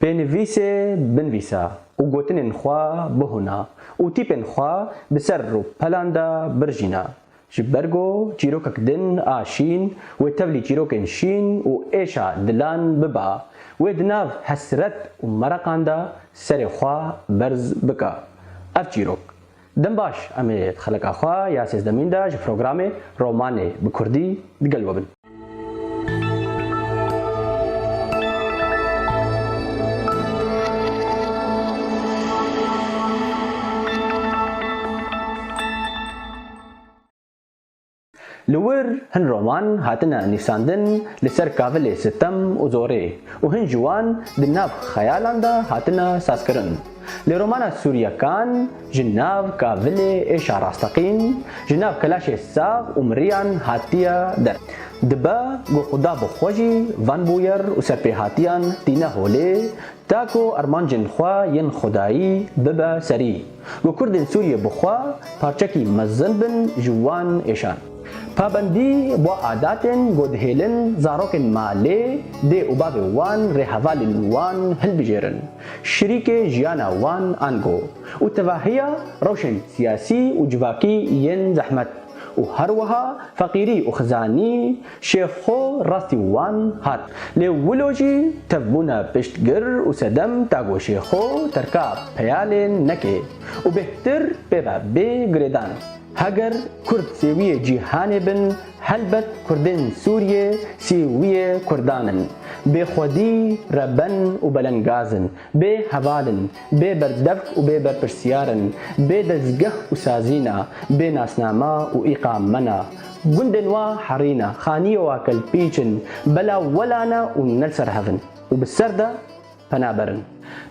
Pênivîsê binvîsa û gotinên xwe bihûna û tîpên xwe bi ser rûpelan de birjîna. Ji ber ku çîrokek din a şîn wê tevlî çîrokên şîn û êşa dilan biba, wê di nav hesret û mereqan de serê xwe berz bike. Ev çîrok Dem baş, em ê di xeleka xwe ya sêzdemîn de ji programê Romanê bi kurdî digel we bin. Li wir hin roman hatine nivîsandin li ser kavilê sitem û zorê û hin ji wan di nav xeyalan de hatine sazkirin. Lê romana Sûriye Kan ji nav kavilê êşa rasteqîn, ji nav kelaşê sax û miriyan hatiye der. Dibe ku xuda bi xwe jî van bûyer û serpêhatiyan tîne holê, ta ku armancên xwe yên xwedayî bibe serî. Ku Kurdên Sûriyê bi xwe parçekî mezin bin ji wan êşan. Pabendî bo adatên ku dihêlin zarokên malê dê û bavê wan rê hevalên wan hilbijêrin, şirîkê jiyana wan an ku û tevahiya rewşên siyasî û civakî yên zehmet û her wiha feqîrî û xizanî Şêx xwe rastî wan hat. Lê wilo jî tevbûna piştgir û sedem dago şêx xwe terka peyalên neke û bêhtir pê ve bê girêdan. Heger kurd sêwiyê cîhanê bin helbet kurdên Sûriyê sêwiyê kurdan in. Bêxwedî, reben û belengaz in. Bê heval in, bê berdevk û bê berpirsyar in, bê dezgeh û sazîna, bê nasnama û îqa mena. Gundên wa herî ne, xanîyê wa kelpîç in, bela wela ne û ne li ser hev in û bi ser de pena ber in.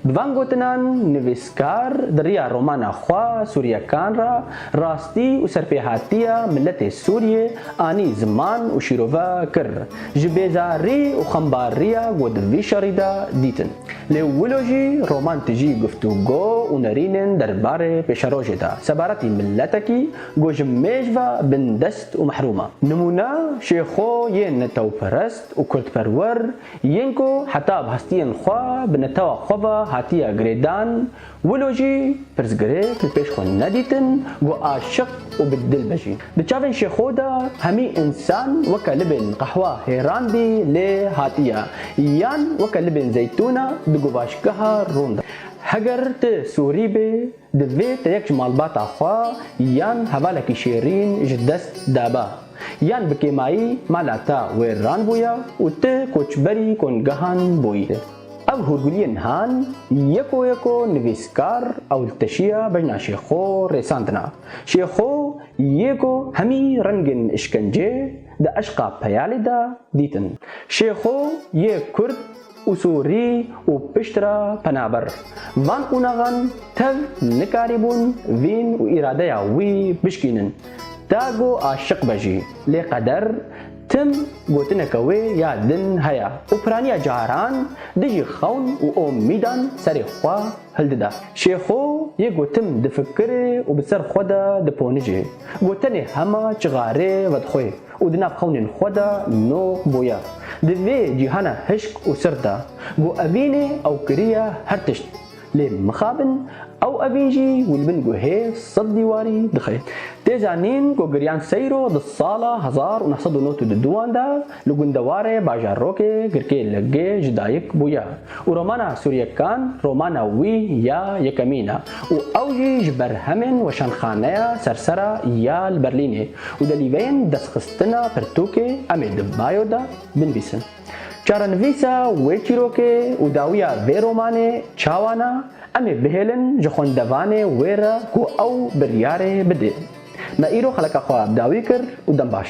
Bi van gotinan nivîskar di riya romana xwe Sûriyekan re rastî û serpêhatiya miletê Sûriyê anî ziman û şîrove kir, ji bêzarî û xembarîya ku di vî şerî de dîtin. Lê wilo jî roman tijî guftûgo û nerînên derbarê pêşerojê de sebaretî miletekî ku ji mêj ve bindest û mehrûm e. Nimûne Şêxo yên netewperest û kurdperwer yên ku heta bi hestiyên xwe bi netewa xwe ve hatiye girêdan Wilo jî pirsgirêk li pêş xwe nedîtin ku aşiq û bi dil be jî. Di çavên Şêxo de hemî însan weke libên qehwa hêran bî lê hatiye yan weke libên zeytûna di guvaşgeha rûn de. Heger tu Sûrî bê divê te yek ji malbata xwe yan hevalekî şêrîn ji dest daba yan bi kêmayî mala te wêran bûye û tu koçberî kongehan bûyî. Ev hûrguliyên nihan yeko yeko nivîskar ewilteşiya bejna Şêxo rêsandina. Şêxo yê ku hemî rengên îşkencê di eşqa peyalê de dîtin. Şêxo yê kurd û sorî û piştre penaber van qonaxan tev nikarîbûn vîn û îradeya wî bişkînin. Tago aşiq be jî lê qeder Tim gotineke wê ya din heye û piraniya caran dijî xewn û omîdan serê xwe hildide. Şêxo yê gotin difikire û bi ser xwe de diponije. Gotenê hema çixarê vedixwe û di nav xewnên xwe de no boye. Di vê cîhana hişk û sirt de, got evînê ew kiriye her tişt. Lê mixabin ew evîn jî wî li bin guhê sed dîwarî dixe. Tê zanîn ku giryan seyro di sala hezar û neh sed û nod û du duan de li gundewarê Bajarokê girkê li gê ji dayik bûye û romana Sûryekan romana wî ya yekemîn e û ew jî ji berhemên Weşanxaneya Sersera ya li Berlînê û delîveyên destxistina pirtûkê em ê di bayo de binvîsin. Çarenivîsa wê çîrokê û dawiya vê romanê çawa na, em ê bihêlin ji xwendevanê wê re ku ew biryarê bidê. Me îro xeleka xwe bi dawî kir û dem baş.